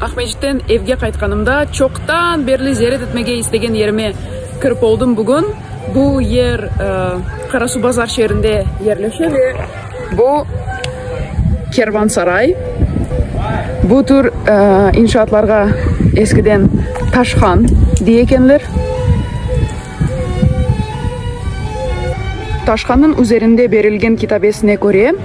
Aqmescitten evge qaytqanımda, çoqtan berli ziyaret etmege istegen yerime kirip oldım bugün. Bu yer Qarasuvbazar şeerinde yerleşe ve bu kervansaray. Bu tür inşaatlarğa eskiden taşhan dey ekenler. Taşhannıñ üzerinde berilgen kitabesine köre,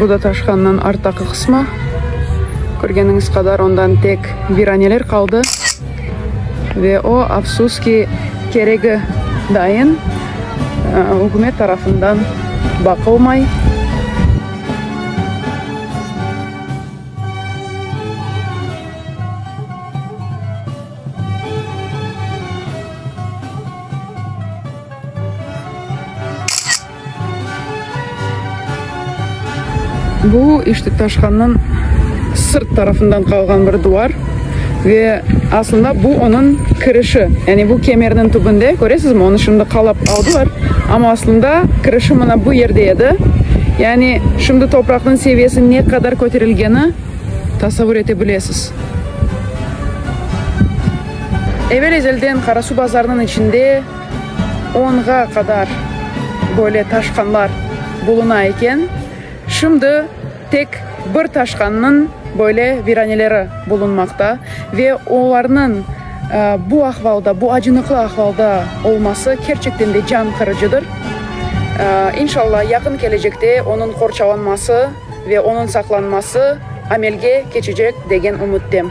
Bu da taşqannıñ arttaqı qısmı. Körgeniñiz qadar, ondan tek viraneler qaldı. Ve o, afsus ki, keregi dayın ükümet tarafından baqılmay. Bu, işte, taşhanıñ sırt tarafından qalğan bir duvar. Ve aslında bu onıñ kirişi. Yani bu kemerniñ tübünde, köresizmi, onı şimdi qalap aldılar. Amma aslında kirişi mına bu yerde edi. Yani şimdi topraqnıñ seviyesi ne qadar köterilgeni. tasavur ete bilesiz. Evel-ezelden Qarasu bazarınıñ içinde onğa qadar böyle taşqanlar buluna eken, şimdi tek bir taşqannıñ böyle viraneleri bulunmaqta ve olarnıñ bu ahvalda, bu acınıqlı ahvalda olması kerçekten de can qırıcıdır. İnşallah, yaqın kelecekte onıñ qorçalanması, Ve onıñ saqlanması amelge keçecek degen ümüttem.